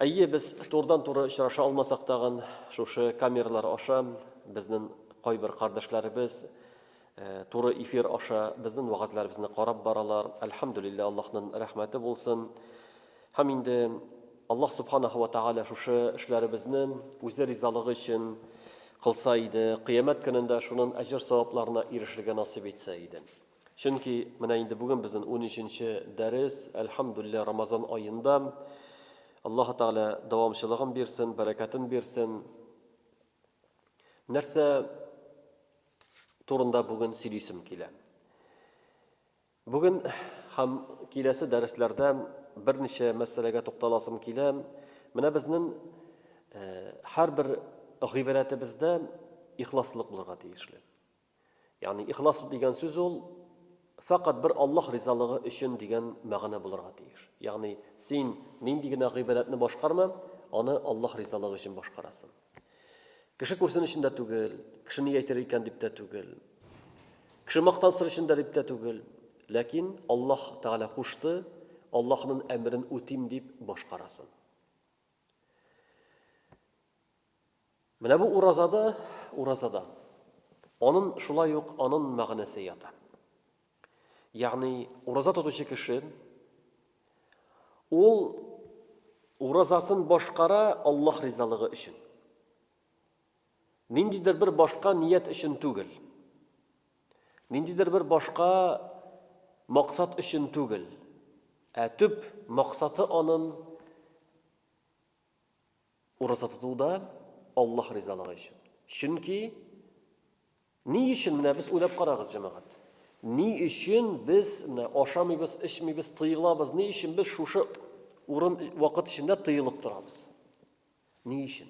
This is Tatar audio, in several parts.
Әйе, без турыдан-туры очраша алмасак тагын, шушы камералар аша безнең кайбер кардәшләребез туры эфир аша безнең вагазларыбызны карап баралар. Әлхәмдулилла, Аллаһның рәхмәте булсын. Һәм инде Аллаһ субханаһу ва тааля шушы эшләребезне үзе ризалыгы өчен кылса иде, кыямәт көнендә шуның әҗер-савапларына ирешергә насыйп итсә иде. Чөнки менә инде бүген безнең унөченче дәрес, әлхәмдүлилләһ, Рамазан аенда. Аллаһы Тәгалә дәвамчылыгын бирсен, бәрәкәтен бирсен. Нәрсә турында бүген сөйлисем килә? Бүген һәм киләсе дәресләрдә берничә мәсьәләгә тукталасым килә. Менә безнең һәрбер гыйбадәтебездә ихласлык булырга тиешле. Ягъни ихлас дигән сүз ул фәкать бер Аллаһ ризалыгы өчен дигән мәгънә булырга тиеш. Ягъни син нинди генә гыйбадәтне башкарма, аны Аллаһ ризалыгы өчен башкарасың. Кеше күрсен өчен дә түгел, кеше ни әйтер икән дип тә түгел. Кеше мактансын өчен дә дип тә түгел. Ләкин Аллаһ Тәгалә кушты, Аллаһның әмерен үтим дип башкарасың. Менә бу уразада, уразада. Анын шулай ук анын мәгънәсе ята. Ягъни ураза тотучы кеше ул уразасын башкара Аллаһ ризалыгы өчен. Ниндидер бер башка ният өчен түгел. Ниндидер бер башка максат өчен түгел. Ә төп максаты анын Ураза тоту да Аллаһ ризалыгы өчен. Чөнки ни өчен менә без уйлап карагыз, җәмәгать. Ни өчен без менә ашамыйбыз, эчмибез, тыелабыз? Ни өчен без шушы урын вакыт эчендә тыелып торабыз? Ни өчен?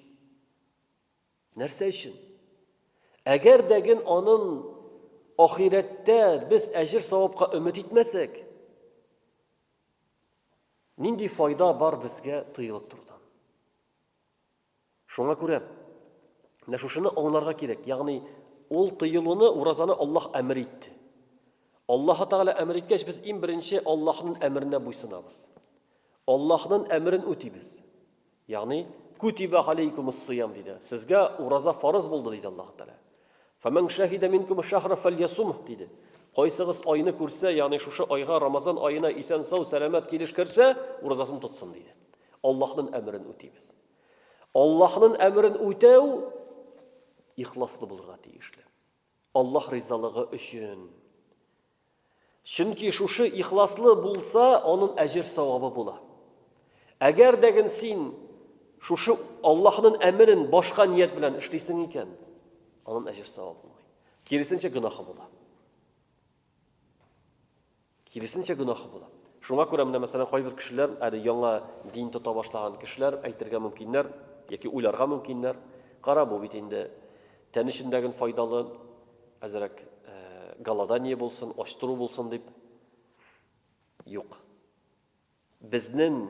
Нәрсә өчен? Әгәр дә ген анын ахирәттә без әҗер савапка өмет итмәсәк, Нинди файда бар безгә тыелып торудан? Шуңа күрә менә шушыны аңларга кирәк. Ягъни ул тыелуны уразаны Аллаһ әмер итте. Аллаһ Тәгалә әмер иткәч, без иң беренче Аллаһның әмеренә буйсынабыз. Аллаһның әмерен үтибез. Ягъни, Кутибә галәйкүмуссыям, диде. Сезгә ураза фарыз булды, диде Аллаһ Тәгалә. Фәмән шәһидә минкум шәһра фәльясум, диде. Кайсыгыз айны күрсә, ягъни шушы айга Рамазан аена исән сау, сәламәт килеш керсә, уразасын тотсын, диде. Аллаһның әмерен үтибез. Аллаһның әмерен үтәү ихласлы булырга тиешле. Аллаһ ризалыгы өчен Чөнки шушы ихласлы булса, анын әҗер-савабы була. Әгәр дәген син шушы Аллаһнын әмерен башка ният белән эшлисең икән, анын әҗер-савабы булмый. Киресенчә гөнаһы була. Киресенчә гөнаһы була. Шуңа күрә менә мәсәлән кайбер кешеләр, әле яңа дин тота башлаган кешеләр әйтергә мөмкиннәр, яки уйларга мөмкиннәр. Кара бу бит инде Тән өчен дә гел файдалы, әзрәк голодание булсын, ач тору булсын дип. Юк. Безнең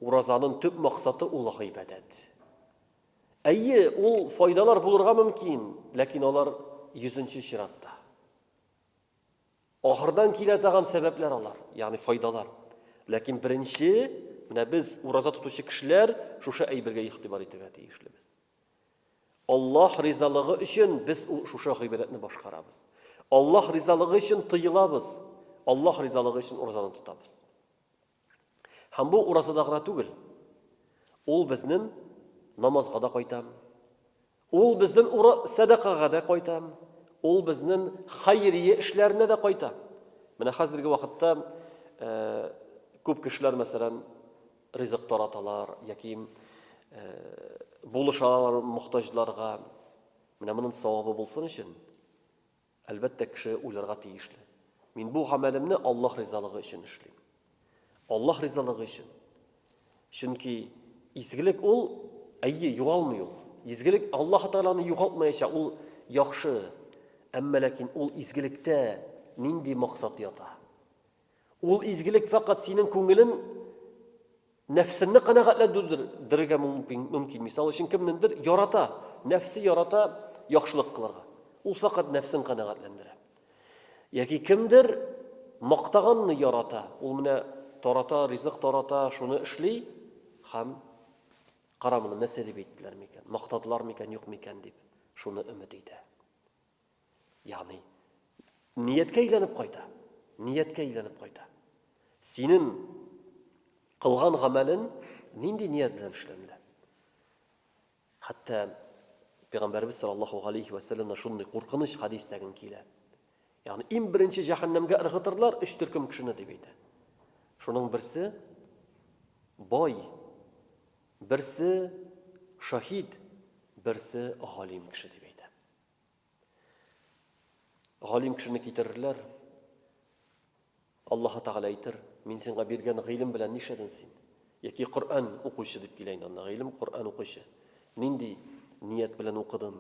уразаның төп максаты ул гыйбадәт. Әйе, ул файдалар булырга мөмкин, ләкин алар йөзенче чиратта. Ахырдан килә тагын сәбәпләр алар, ягъни файдалар. Ләкин беренче, менә без ураза тотучы кешеләр шушы әйбергә игътибар итергә тиешле без. Аллаһ ризалыгы өчен без шушы гыйбадәтне башкарабыз. Аллаһ ризалыгы өчен тыелабыз. Аллаһ ризалыгы өчен уразаны тотабыз. Һәм бу уразада гына түгел. Ул безнең намазга да кайтам. Ул безнең ура садакага да кайтам. Ул безнең хайрия эшләренә дә кайта. Менә хәзерге вакытта э, күп кешеләр мәсәлән ризык тараталар яки булыша алалар мохтаҗларга. Менә моның савабы булсын өчен, әлбәттә, кеше уйларга тиешле. Мин бу гамәлемне Аллаһ ризалыгы өчен эшлим. Аллаһ ризалыгы өчен. Чөнки изгелек ул, әйе, югалмый ул. Изгелек Аллаһ Тәгаләне югалтмаячак, ул яхшы. Әмма ләкин ул изгелектә нинди максат ята? Ул изгелек фәкать синең күңелен, нәфсеңне канәгатьләндерергә мөмкин. Мисал өчен, кемнендер ярата, нәфсе ярата яхшылык кылырга. Ул фәкать нәфсен канәгатьләндерә. Яки кемдер мактаганны ярата, ул менә тарата, ризык тарата, шуны эшли һәм карамыны нәрсә дип әйттеләр микән, мактадылар микән, юк микән дип, шуны өмет итә. Ягъни нияткә әйләнеп кайта. Нияткә әйләнеп кайта. Синең кылган гамәлен нинди ният белән эшләмиләр? Хәтта Пәйгамбәрбез саллаллаһу алейхи ва саллямнан шундый куркыныч хадис тәген килә. Ягъни иң беренче җәһәннәмгә ыргытырлар өч төркем кешене дип әйтә. Шуның берсе бай, берсе шаһид, берсе галим кеше дип әйтә. Галим кешене китерерләр. Аллаһ Тәгалә әйтер, мин сиңа биргән гыйлем белән нишләдең син? Яки Коръән укучы дип килә инде анда, гыйлем Коръән укучы. Нинди ният белән укыдың?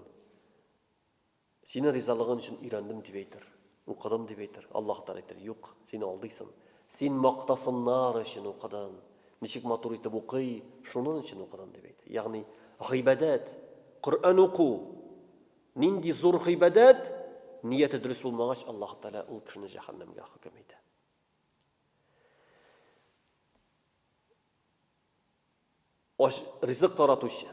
Синең ризалыгың өчен өйрәндем дип әйтер. Укыдым дип әйтер, Аллаһ Тәгалә әйтер, юк, син алдыйсын. Син мактасыннар өчен укыдың. Ничек матур итеп укый, шунын өчен укыдың дип әйтә. Ягъни гыйбадәт, Коръән уку нинди зур гыйбадәт, нияте дөрес булмагач, Аллаһ Тәгалә ул кешене җәһәннәмгә хөкем итә. Ач ризык таратучы,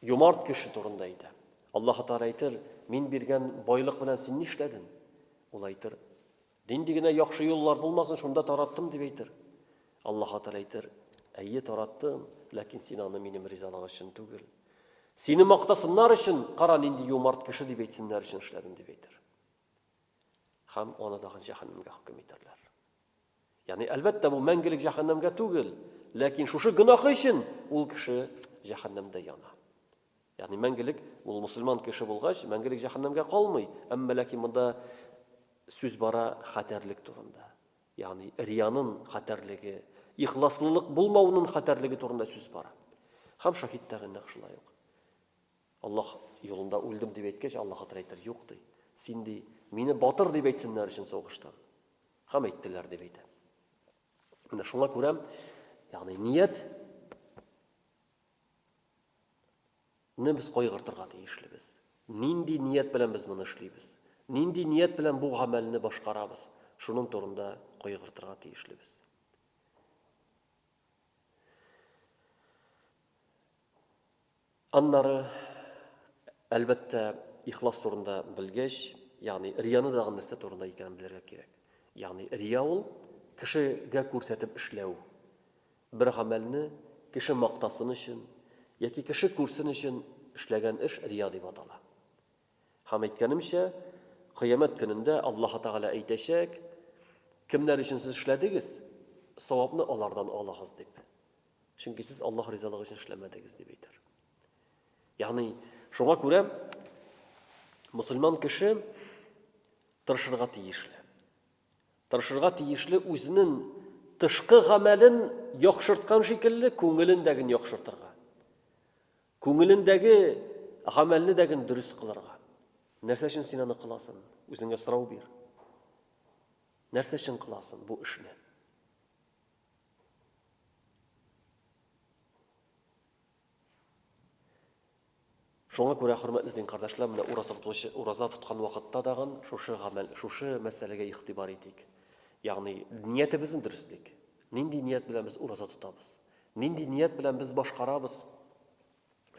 юмарт кеше турында әйтә. Аллаһ Тәгалә әйтер, мин биргән байлык белән син нишләдең? Ул әйтер, нинди генә яхшы юллар булмасын, шунда тараттым дип әйтер. Аллаһ Тәгалә әйтер, әйе тараттым, ләкин син аны минем ризалык өчен түгел. Сине мактасыннар өчен, кара нинди юмарт кеше дип әйтсеннәр өчен эшләдем дип әйтер. Хәм аны дагы җәһәннәмгә хөкем итәрләр. Ягъни, әлбәттә, бу мәңгелек җәһәннәмгә түгел, ләкин шушы гөнаһы өчен ул кеше җәһәннәмдә яна. Ягъни, мәңгелек ул мусульман кеше булгач, мәңгелек җәһәннәмгә калмый, әмма ләкин монда сүз бара хәтәрлек турында. Ягъни, риянын хәтәрлеге, ихласлылык булмаунын хәтәрлеге турында сүз бара. Хәм шахид тәгә нәкъ шулай ук. Аллаһ юлында үлдем дип әйткәч, Аллаһ хәтер әйтер, юк ди. Син ди, мине батыр дип әйтсеннәр өчен сугыштан. Хам әйттеләр дип әйтә. Менә шуңа күрә, ягъни ният не без кайгыртырга тиешлебез. Нинди ният белән без моны эшлибез? Нинди ният белән бу гамәлне башкарабыз? Шуның турында кайгыртырга тиешлебез. Аннары, әлбәттә, ихлас турында белгәч, ягъни рияны дагы нәрсә турында икәнен белергә кирәк. Ягъни рия ул кешегә күрсәтеп эшләү. Бер гамәлне кеше мактасын өчен яки кеше күрсен өчен эшләгән эш рия дип атала. Һәм әйткәнемчә, кыямәт көнендә Аллаһ Тәгалә әйтәчәк, кемнәр өчен сез эшләдегез, савапны алардан алыгыз дип. Чөнки сез Аллаһ ризалыгы өчен эшләмәдегез дип әйтер. Ягъни, шуңа күрә мусульман кеше тырышырга тиешле. Тырышырга тиешле үзенең тышкы гамәлен яхшырткан шикелле күңелендәген яхшыртырга. Күңелендәге гамәлне дәген дөрес кылырга. Нәрсә өчен син аны кыласың? Үзеңә сорау бир. Нәрсә өчен кыласың бу эшне? Шуңа күрә, хөрмәтле дин кардәшләр, менә ураза тотучы, ураза тоткан вакытта дагын шушы гамәл, шушы мәсьәләгә игътибар итик. Ягъни ниятебезне дөреслик. Нинди ният белән без ураза тотабыз? Нинди ният белән без башкарабыз?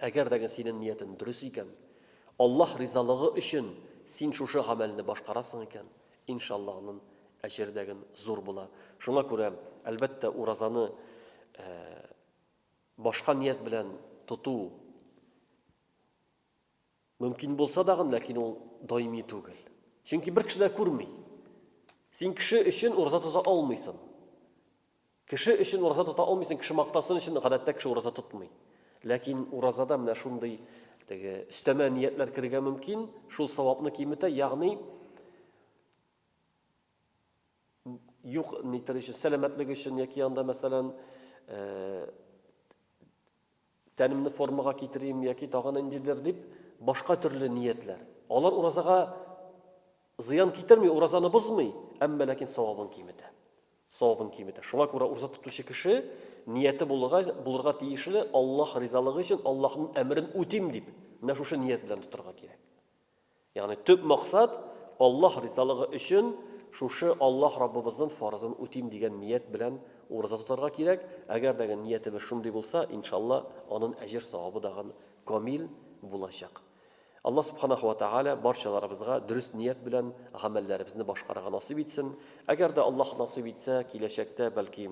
Әгәр дә синен ниятен дөрес икән, Аллаһ ризалыгы өчен син шушы гамәлне башкарасың икән, иншалла анын әҗер дәген зур була. Шуңа күрә, әлбәттә, уразаны башка ният белән тоту, Мөмкин булса дагын, ләкин ул даими түгел. Чөнки бер кеше дә күрми. Син кеше өчен ураза тота алмыйсың. Кеше өчен ураза тота алмыйсың, кеше мактасын өчен гадәттә кеше ураза тотмый. Ләкин уразада менә шундый теге өстәмә ниятләр керергә мөмкин, шул савапны киметә, ягъни юк нитер өчен, сәламәтлек өчен яки анда мәсәлән, э, Тәнемне формага китерим яки тагын ниндидер дип, башка төрле ниятләр. Алар уразага зыян китерми, уразаны бозмый, әмма ләкин савабын киметә. Савабын киметә. Шуңа күрә ураза тотучы кеше нияте булырга, булырга тиешле Аллаһ ризалыгы өчен Аллаһның әмерен үтим дип, менә шушы ният белән тотарга кирәк. Ягъни төп максат, Аллаһ ризалыгы өчен шушы Аллаһ Раббыбызның фарызын үтим дигән ният белән ураза тотарга кирәк. Әгәр дә гын ниятебез шундый булса, иншалла, анын әҗер-савабы дагын камил булачак. Аллаһ Субханаху ва Тааля барчаларыбызга дөрес ният белән гамәлләребезне башкарырга насыйп итсен. Әгәр дә Аллаһ насыйп итсә, киләчәктә, бәлки,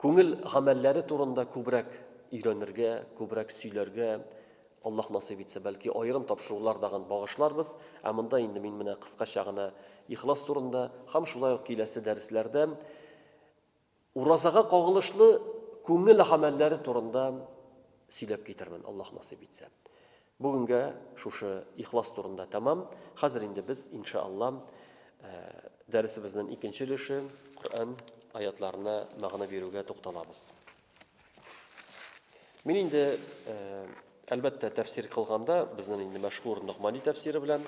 Күңел гамәлләре турында күбрәк өйрәнергә, күбрәк сөйләргә, Аллаһ насыйп итсә, бәлки аерым тапшырулар дагын багышларбыз. Ә монда инде мин менә кыскача гына ихлас турында һәм шулай ук киләсе дәресләрдә уразага кагылышлы күңел гамәлләре турында сөйләп китермен, Аллаһ насыйп итсә. Бүгенгә шушы ихлас турында тәмам. Хәзер инде без, инша Алла, дәресебезнен икенче өлеше, Коръән аятларына мәгънә бирүгә тукталабыз. Мин инде, әлбәттә, тәфсир кылганда, безнен инде мәшһүр Ногмани тәфсире белән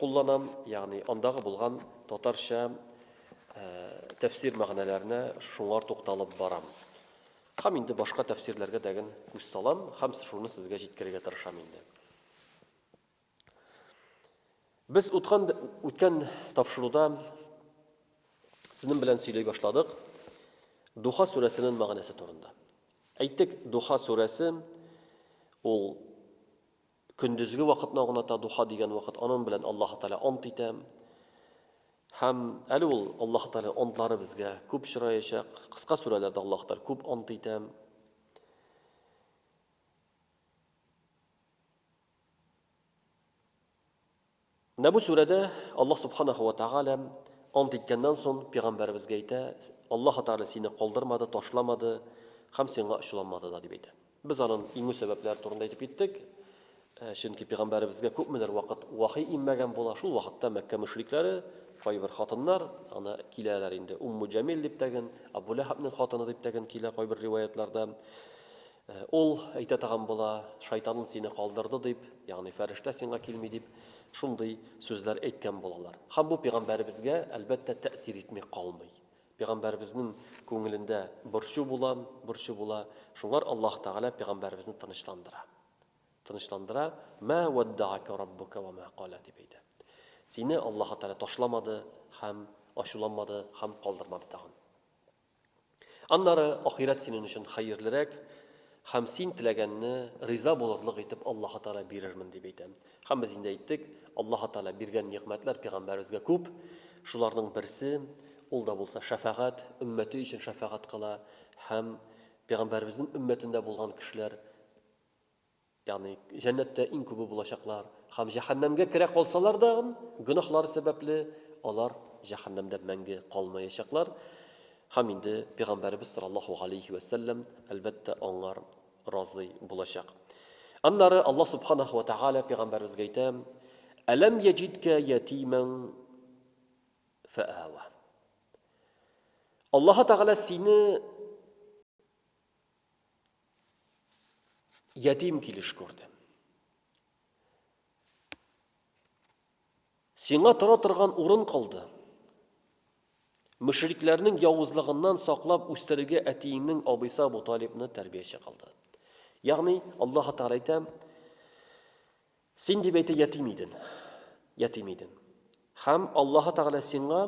кулланам, ягъни андагы булган татарча тәфсир мәгънәләренә шуңар тукталып барам. Һәм инде башка тәфсирләргә дәген күз салам һәм шуны сезгә җиткерергә тырышам инде. Без уткан үткән тапшыруда сезнең белән сөйли башладык Духа сүрәсенең мәгънәсе турында. Әйтик, Духа сүрәсе ул Көндезге вакытны аңлата духа дигән вакыт, анын белән Аллаһ Тәгалә ант итә. Һәм әле ул Аллаһ Тәгалә антлары безгә күп чыраячак. Кыска сүрәләрдә Аллаһ Тәгалә күп ант итә. Менә бу сүрәдә Аллаһ Субханаһу ва Тәгалә ант иткәннән соң пигамбәребезгә әйтә, Аллаһы Тәгалә сине калдырмады, ташламады һәм сиңа ачуланмады да, дип әйтә. Без анын иңү сәбәпләре турында әйтеп киттек. Чөнки пигамбәребезгә күпмедер вакыт вахи инмәгән була, шул вакытта Мәккә мөшрикләре, кайбер хатыннар, аны киләләр инде, Умму Җәмил дип тәген, Абу Ләһабнең хатыны дип тәген килә кайбер риваятьләрдә. Ә ул әйтә тагын була, Шайтанын сине калдырды дип, ягъни фәрештә сиңа килми дип, шундый сүзләр әйткән булалар. Һәм бу пигамбәребезгә, әлбәттә, тәэсир итми калмый. Пигамбәребезнең күңелендә борчу була, борчу була. Шуңар Аллаһ Тәгалә пигамбәребезне тынычландыра. Тынычландыра, Мә уаддаака раббука уа мә кала, дип әйтә. Сине Аллаһ Тәгалә ташламады һәм ачуланмады һәм калдырмады тагын. Аннары ахирәт синең өчен хәерлерәк, һәм син теләгәнне риза булырлык итеп Аллаһ Тәгалә бирермен дип әйтә. Һәм без инде әйттек, Аллаһ Тәгалә биргән нигъмәтләр пәйгамбәребезгә күп. Шуларның берсе, ул да булса шәфәгать, өммәте өчен шәфәгать кыла һәм пәйгамбәребезнең өммәтендә булган кешеләр Ягъни җәннәттә иң күбе булачаклар һәм җәһәннәмгә керә калсалар да, гөнаһлары сәбәпле, алар җәһәннәмдә мәңге калмаячаклар. Һәм инде пәйгамбәребез саллаллаһу галәйһи вә сәлләм, әлбәттә, аңар разый булачак. Аннары Аллаһ субханаһу ва тааля пәйгамбәребезгә әйтә: "Әләм яҗидкә ятиман фаава". Аллаһ тааля сине Ятим килеш күрдем. Сиңа тора торган урын калды. Мөшрикләрнең явызлыгыннан саклап үстерергә әтиеңнең абыйсы Абу Талибны тәрбияче кылды. Ягъни Аллаһ Тәгалә әйтә, син дип әйтә ятим иден. Ятим иден. Хәм Аллаһ Тәгалә сиңа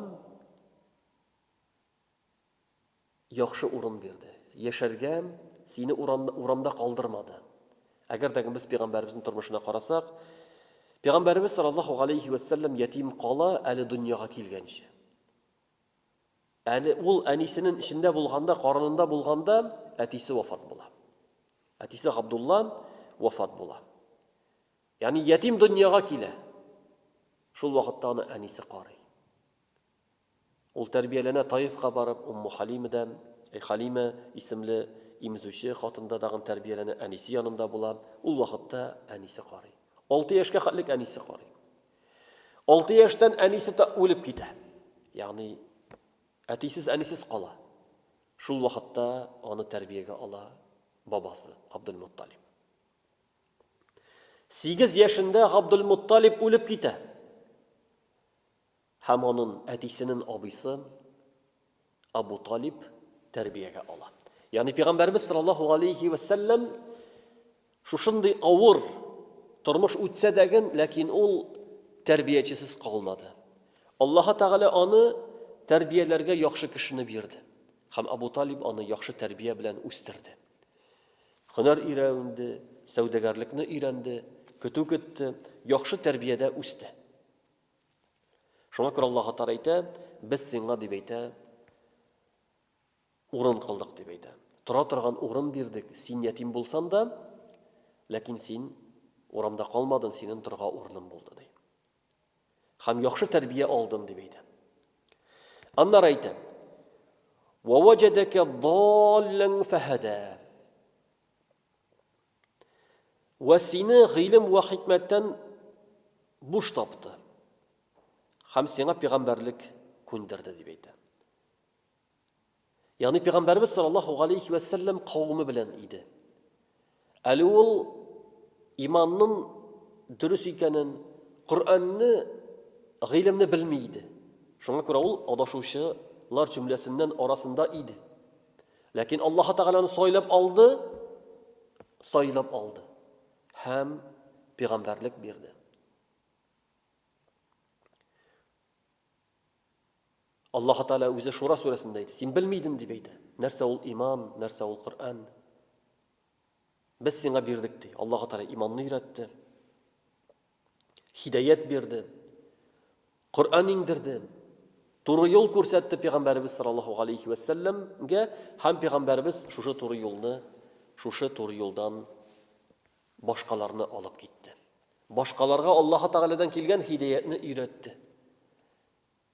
Яхшы урын бирде. Яшәргә, сине урамда, урамда калдырмады. Әгәр дә без пигамбәребезнең тормышына карасак, пигамбәребез саллаллаху галәйһи вә сәлләм ятим кала әле дөньяга килгәнче. Әле ул әнисенең эчендә булганда, карынында булганда, әтисе вафат була. Әтисе Габдулла вафат була. Ягъни ятим дөньяга килә. Шул вакытта аны әнисе карый. Ул тәрбияләнә Таифка барып, Умму Халимедә, әй Халимә, исемле имзүче хатында тагын тәрбияләнә, әнисе янында була. Ул вакытта әнисе карый. Алты яшькә хәтлек әнисе карый. Алты яшьтән әнисе та үлеп китә. Ягъни әтисез, әнисез кала. Шул вакытта аны тәрбиягә ала бабасы Абдулмутталиб. Сигез яшендә Габдулмутталиб үлеп китә. Һәм анын әтисенен абыйсы Абу Талиб тәрбиягә ала. Ягъни пигамбәрбез саллаллаһу галәйһи вә сәлләм шушындый авыр тормыш үтсә дәген, ләкин ул тәрбиячесез калмады. Аллаһы Тәгалә аны тәрбияләргә яхшы кешене бирде. Һәм Абу Талиб аны яхшы тәрбия белән үстерде. Хөнәр өйрәнде, сәүдәгәрлекне өйрәнде, көтү көтте, яхшы тәрбиядә үсте. Шуңа күрә Аллаһ Тәгалә әйтә, без сиңа дип әйтә, урын кылдык дип әйтә. Тора торган урын бирдек. Син ятим булсан да, ләкин син урамда калмадың, синең торга урының булды ди. Хәм яхшы тәрбия алдың дип әйтә. Аннары әйтә. Ва ваҗадака даллан фахада. Вә сине гыйлем вә хикмәттән буш тапты. Хәм сиңа пигамбәрлек күндерде дип әйтә. Ягъни пигамбәрбез саллаллаһу алейхи вә сәлләм кавымы белән иде. Әле ул иманның дөрес икәнен, Коръәнне, гыйлемне белми иде. Шуңа күрә ул адашучылар җөмләсеннән арасында иде. Ләкин Аллаһ Тәгаләне сайлап алды, сайлап алды һәм пигамбәрлек бирде. Аллаһ Тәгалә үзе Шура сүрәсендә әйтә, син белмидең дип әйтә. Нәрсә ул иман, нәрсә ул Коръән? Без сиңа бирдек ди. Аллаһ Тәгалә иманны өйрәтте. Хидәят бирде. Коръән иңдерде. Туры юл күрсәтте пәйгамбәребез саллаллаһу алейхи ва сәлләмгә һәм пәйгамбәребез шушы туры юлны, шушы туры юлдан башкаларны алып китте. Башкаларга Аллаһы Тәгаләдән килгән хидәятне өйрәтте.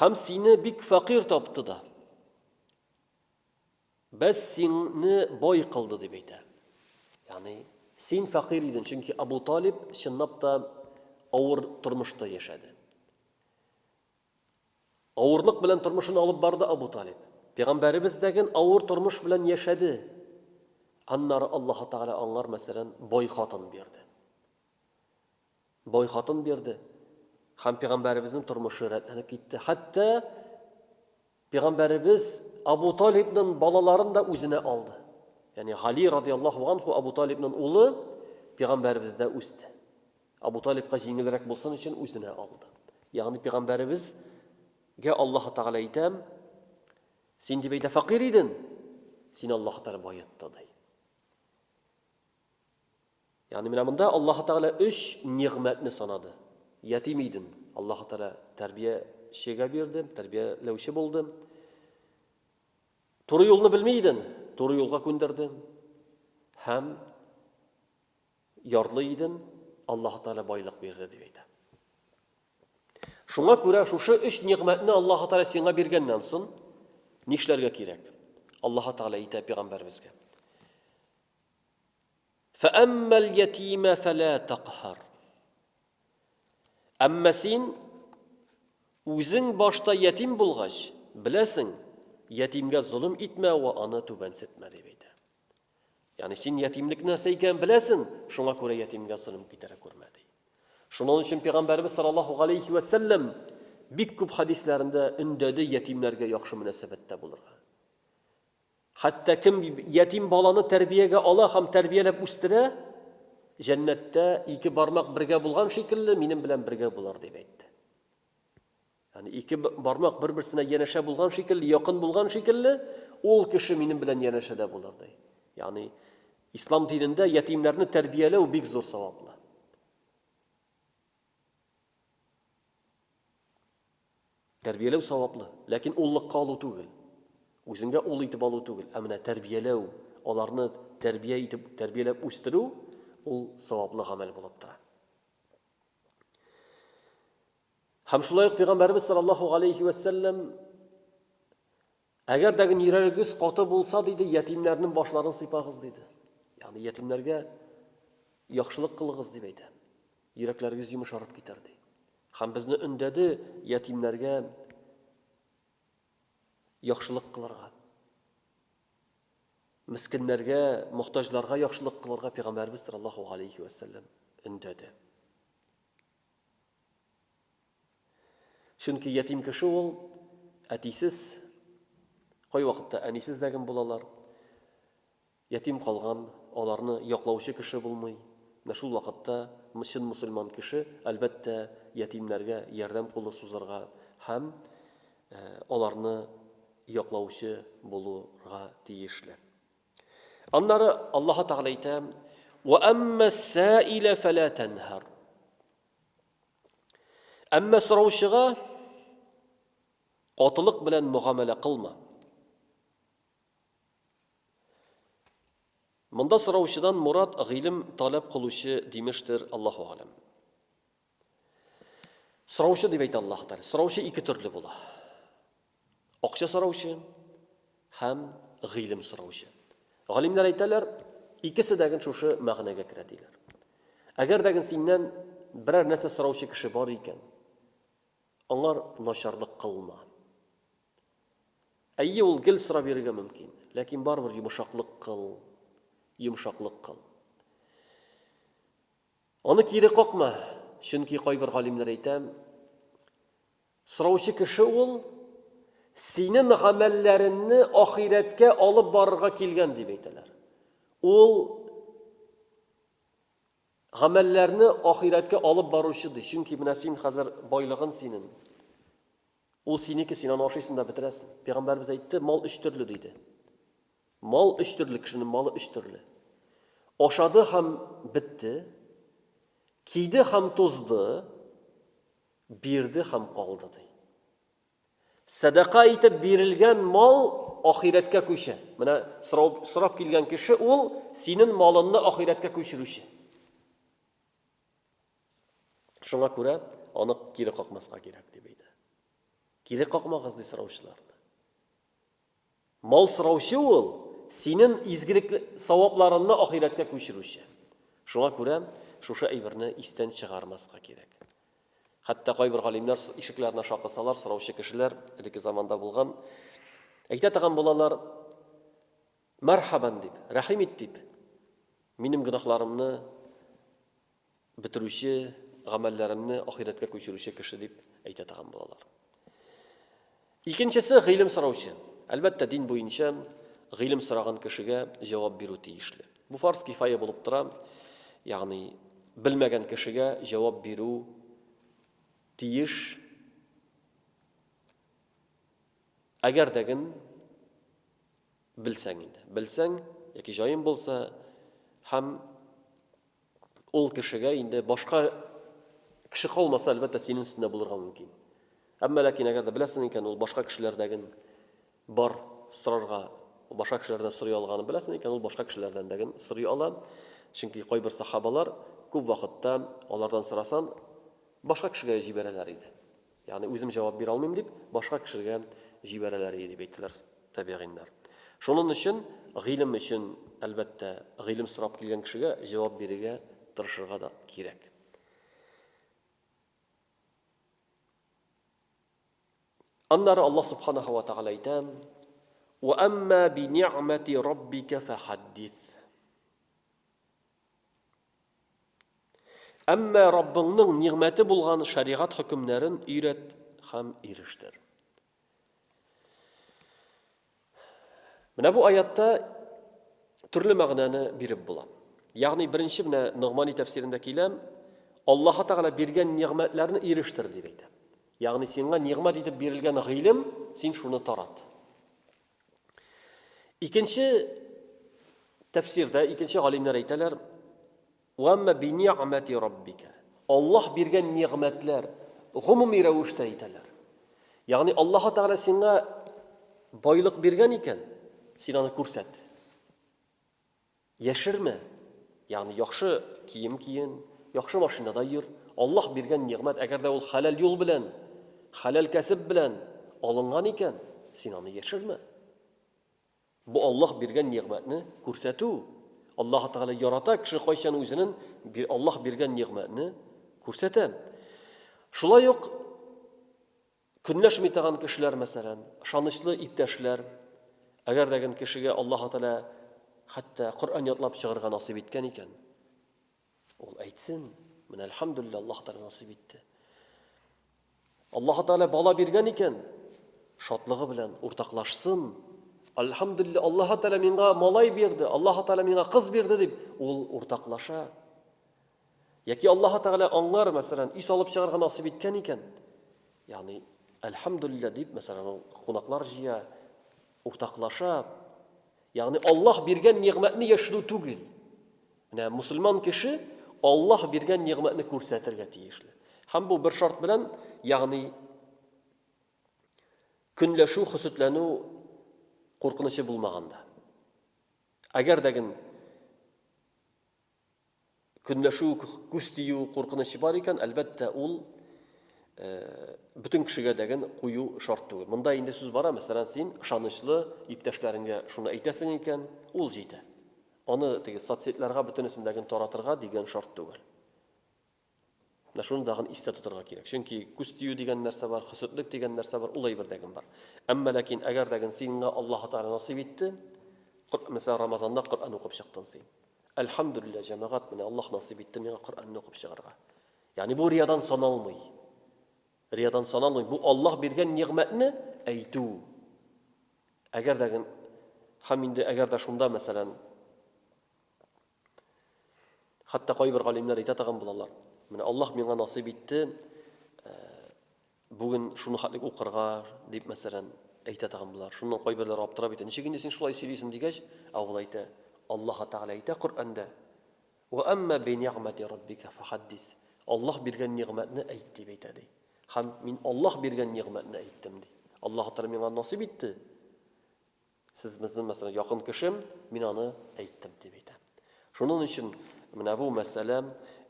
Хәм сине бик факир тапты да. Без сине бай кылды дип әйтә. Ягъни син факир идең, чөнки Абу Талиб чынлап та авыр тормышта яшәде. Авырлык белән тормышын алып барды Абу Талиб. Пәйгамбәребез дә ген авыр тормыш белән яшәде. Аннары Аллаһ Тәгалә аңар мәсәлән бай хатын бирде. Бай хатын бирде. Һәм пигамбәребезнең тормышы рәтләнеп китте. Хәтта пигамбәребез Абу Талибнын балаларын да үзенә алды. Ягъни Гали радиаллаһу анху Абу Талибнын улы пигамбәребездә үсте. Абу Талибка җиңелрәк булсын өчен үзенә алды. Ягъни пигамбәребез Гә Аллаһ Тәгалә әйтә, син дип әйтә факир иден, син Аллаһ Тәгалә баетты ди. Ягъни менә монда Аллаһы Тәгалә өч нигъмәтне санады. Ятим идем, Аллаһы Тәгалә тәрбиячегә бирде, тәрбияләүче булды. Туры юлны белми идем, туры юлга күндерде. Һәм ярлы идем, Аллаһы Тәгалә байлык бирде дип әйтә. Шуңа күрә шушы өч нигъмәтне Аллаһы Тәгалә сиңа биргәннән соң нишләргә кирәк? Аллаһы Тәгалә әйтә пәйгамбәребезгә. Фәәммәл ятимә фәлә тәкһәр. Әмма син үзең башта ятим булгач, беләсең, ятимгә золым итмә вә аны түбәнсетмә дип әйтә. Ягъни син ятимлек нәрсә икәнен беләсең, шуңа күрә ятимгә золым китерә күрмә ди. Шуның өчен пәйгамбәрбез саллаллаһу галәйһи ва саллям бик күп хәдисләрендә өндәде ятимнәргә яхшы мөнәсәбәттә булырга. Хәтта кем ятим баланы тәрбиягә ала һәм тәрбияләп үстерә, җәннәттә ике бармак бергә булган шикелле, минем белән бергә булыр, дип әйтте. Ягъни ике бармак бер-берсенә янәшә булган шикелле, якын булган шикелле, ул кеше минем белән янәшәдә булыр, ди. Ягъни ислам динендә ятимнәрне тәрбияләү бик зур саваплы. Тәрбияләү саваплы, ләкин уллыкка алу түгел. Үзеңгә ул итеп алу түгел, ә менә тәрбияләү, аларны тәрбия итеп, тәрбияләп үстерү, ул саваплы гамәл булып тора. Һәм шулай ук Пәйгамбәрбез саллаллаһу галәйһи вә сәлләм Әгәр дә нирәрегез каты булса, диде, ятимнәрнең башларын сыйпагыз, диде. Ягъни ятимнәргә яхшылык кылыгыз дип әйтә. Йөрәкләрегез йомшарып китәр ди. Хәм безне өндәде ятимнәргә яхшылык кылырга. Мискиннәргә, мохтаҗларга яхшылык кылырга пәйгамбәрбез саллаллаһу алейхи ва саллям өндәде. Чөнки ятим кеше ул әтисез, кайвакытта әнисез дә гем булалар. Ятим калган, аларны яклаучы кеше булмый. Менә шул вакытта чын мөселман кеше, әлбәттә, ятимнәргә ярдәм кулы сузарга һәм аларны яклаучы булырга тиешле. Аннары Аллаһы Тәгалә әйтә: "Ва аммас-саилә фәлә танһар". Әмма сораучыга катылык белән мөгамәлә кылма. Монда сораучыдан мурад гыйлем таләп кылучы димештер, Аллаһу алем. Сораучы дип әйтә Аллаһ Тәгалә. Сораучы ике төрле була. Акча сораучы һәм гыйлем сораучы. Галимнәр әйтәләр, икесе дә шушы мәгънәгә керә диләр. Әгәр дә синнән берәр нәрсә сораучы кеше бар икән, аңар начарлык кылма. Әйе, ул гел сорап йөрергә мөмкин, ләкин барыбер йомшаклык кыл, йомшаклык кыл. Аны кире какма, чөнки кайбер галимнәр әйтә, Сораучы кеше ул, синең гамәлләреңне ахирәткә алып барырга килгән, дип әйтәләр. Ул гамәлләрне ахирәткә алып баручы ди, чөнки менә син хәзер байлыгын синең. Ул синеке, син аны ашыйсың да бетерәсең. Пәйгамбәрбез әйтте, мал өч төрле диде. Мал өч төрле, кешенең малы өч төрле. Ашады һәм бетте, киде һәм тузды, Бирде һәм калды, ди. Сәдака итеп бирелгән мал ахирәткә күчә. Менә сорау сорап килгән кеше ул синен малынны ахирәткә күчерүче. Шуңа күрә аны кире какмаска кирәк дип әйтә. Кире какмагыз ди сораучыларны. Мал сораучы ул, синен изгелек савапларынны ахирәткә күчерүче. Шуңа күрә шушы әйберне истән чыгармаска кирәк. Хәтта кайбер галимнәр ишекләренә шакысалар, сораучы кешеләр, элекке заманда булган, әйтә торган булалар, Мәрхәбән дип, рәхим ит дип, минем гөнаһларымны Бетерүче, гамәлләремне ахирәткә күчерүче кеше дип әйтә тагын булалар. Икенчесе гыйлем сораучы. Әлбәттә, дин буенча гыйлем сораган кешегә җавап бирү тиешле. Бу фарз кифая булып тора. Ягъни белмәгән кешегә җавап бирү тиеш. Әгәр дәген белсәң инде. Белсәң яки җаен булса һәм ул кешегә инде башка кеше калмаса, әлбәттә, синең өстендә булырга мөмкин. Әмма ләкин әгәр дә беләсең икән, ул башка кешеләрдәген бар сорарга, башка кешеләрдән сорый алганын беләсең икән, ул башка кешеләрдән дәген сорый ала. Чөнки кайбер сахабалар күп вакытта алардан сорасан, башка кешегә җибәрәләр иде. Ягъни үзем җавап бирә алмыйм дип, башка кешегә җибәрәләр иде, дип әйттеләр табигиннар. Шуның өчен гыйлем өчен, әлбәттә, гыйлем сорап килгән кешегә җавап бирергә тырышырга да кирәк. Аннары Аллаһ субханаһу ва тагала әйтә: "Ва амма би ни'мати раббика фахаддис". Әмма Раббыңның нигъмәте булган шәригать хөкемнәрен өйрәт һәм ирештер. Менә бу аятта төрле мәгънәне биреп була. Ягъни беренче менә Ногмани тәфсирендә килә, Аллаһ Тагала биргән нигъмәтләрне ирештер дип әйтә. Ягъни сиңа нигъмәт итеп бирелгән гыйлем, син шуны тарат. Икенче тәфсирдә, икенче галимнәр әйтәләр, «Уамма би ни'мати раббика». Аллаһ биргән нигъмәтләр гомуми рәвештә әйтәләр. Ягъни Аллаһ Тәгалә сиңа байлык биргән икән, син аны күрсәт. Яшермә, ягъни яхшы кием киен, яхшы машинада йөр, Аллаһ биргән нигъмәт, әгәр дә ул хәләл юл белән, хәләл кәсеп белән алынган икән, син аны яшермә. Бу Аллаһ биргән нигъмәтне күрсәтү. Аллаһ Тәгалә ярата кеше кайчан үзенен Аллаһ биргән нигъмәтне күрсәтә. Шулай ук Көнләшми торган кешеләр, мәсәлән, ышанычлы иптәшләр, әгәр дә гел кешегә Аллаһу Тәгалә хәтта Коръән ятлап чыгарга насыйп иткән икән, ул әйтсен, менә әлхәмдүлилләһ, Аллаһу Тәгалә насыйп итте. Аллаһу Тәгалә бала биргән икән, шатлыгы белән уртаклашсын, Альхамдулилла, Аллаһу Тәгалә миңа малай бирде, Аллаһу Тәгалә миңа кыз бирде дип, ул уртаклаша. Яки Аллаһы Тәгалә аңар, мәсәлән, өй салып чыгарга насыйп иткән икән, ягъни, әлхәмдүлилләһ дип, мәсәлән, ул кунаклар җыя, уртаклаша. Ягъни, Аллаһ биргән нигъмәтне яшерү түгел. Менә мусульман кеше Аллаһ биргән нигъмәтне күрсәтергә тиешле. Һәм бу бер шарт белән, ягъни, көнләшү, хөсетләнү куркынычы булмаганда. Әгәр дә гел Көнләшү, күз тию куркынычы бар икән, әлбәттә, ул бөтен кешегә дәген кую шарт түгел. Монда инде сүз бара, мәсәлән, син ышанычлы иптәшләреңгә шуны әйтәсең икән, ул җитә. Аны теге соцсетларга бөтенесендәген таратырга дигән шарт түгел. Менә шуны дагын истә тотарга кирәк. Чөнки күз тию дигән нәрсә бар, хөсетлек дигән нәрсә бар, ул әйбер дә бар. Әмма ләкин әгәр дә сиңа Аллаһ Тәгалә насыйп итте, мәсәлән, Рамазанда Коръән укып чыктың син. Әлхәмдүлилләһ, җәмәгать, менә Аллаһ насыйп итте миңа Коръәнне укып чыгарга. Ягъни бу риядан саналмый. Риядан саналмый. Бу Аллаһ биргән нигъмәтне әйтү. Әгәр дә һәм инде әгәр дә шунда, мәсәлән, Хәтта кайбер галимнәр әйтә тагын булалар. Менә Аллаһ миңа насыйп итте, э, бүген шуны хәтлек укырга, дип мәсәлән, әйтә тагын булар. Шуннан кайберләр аптырап әйтә, ничек инде син шулай сөйлисең дигәч, ә ул әйтә, Аллаһ Тәгалә әйтә Коръәндә, "Ва амма би ни'мати раббика фахаддис". Аллаһ биргән нигъмәтне әйт дип әйтә ди. Хәм мин Аллаһ биргән нигъмәтне әйттем ди. Аллаһ Тәгалә миңа насыйп итте. Сез безнең мәсәлән якын кешем, мин аны әйттем дип әйтә. Шуның өчен менә бу мәсьәлә,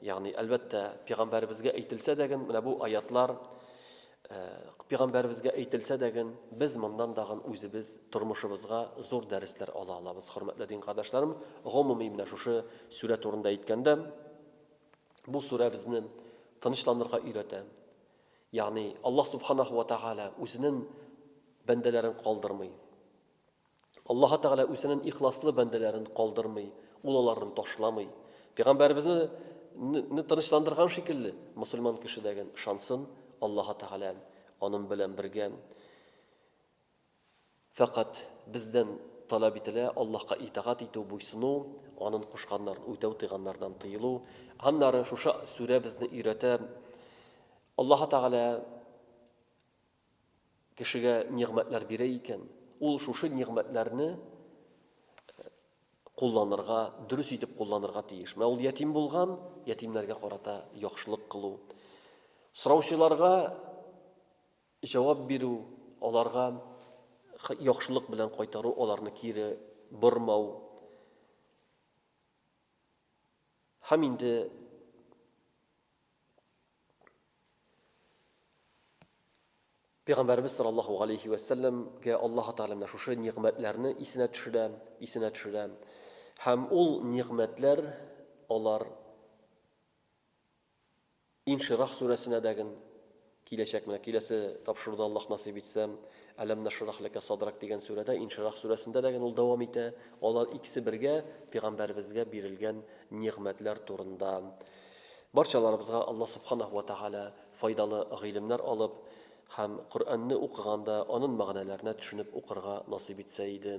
ягъни әлбәттә пигамбәребезгә әйтелсә дә ген менә бу аятлар пигамбәребезгә әйтелсә дә ген без моннан да ген үзебез тормышыбызга зур дәресләр ала алабыз, хөрмәтле дин кардәшләрем. Гомуми менә шушы сүрә турында әйткәндә, бу сүрә безне тынычланырга өйрәтә. Ягъни Аллаһ Субханаһу ва Тәгалә үзенен бәндәләрен калдырмый. Аллаһы Тәгалә үзенен ихласлы бәндәләрен калдырмый, ул аларны ташламый. Пәйгамбәребезне не тынычландырган шикелле, мусульман кеше дәген ышансын, Аллаһы Тәгалә анын белән бергә. Фәкать бездән таләп ителә Аллаһка итагать итү, буйсыну, Анын кушканнарын үтәү, тыйганнардан тыелу. Аннары шушы сүрә безне өйрәтә, Аллаһы Тәгалә кешегә нигъмәтләр бирә икән, ул шушы нигъмәтләрне кулланырга, дөрес итеп кулланырга тиеш. Менә ул ятим булган, ятимнәргә карата яхшылык кылу. Сораучыларга Җавап бирү, аларга яхшылык белән кайтару, аларны кире бормау һәм инде Пәйгамбәребез саллаллаһу галәйһи вә сәлләмгә Аллаһу Тәгалә менә шушы нигъмәтләрне исенә төшерә, исенә төшерә. Һәм ул нигъмәтләр алар Инширах сүрәсенә дә ген киләчәк. Менә киләсе тапшыруда, Аллаһ насыйп итсә, Әләм нашрах ләкә садрак дигән сүрәдә, Инширах сүрәсендә дә ген ул дәвам итә. Алар икесе бергә пигамбәребезгә бирелгән нигъмәтләр турында. Барчаларыбызга Аллаһ Субханаһу ва Тәгалә файдалы гыйлемнәр алып һәм Коръәнне укыганда анын мәгънәләренә төшенеп укырга насыйп итсә иде.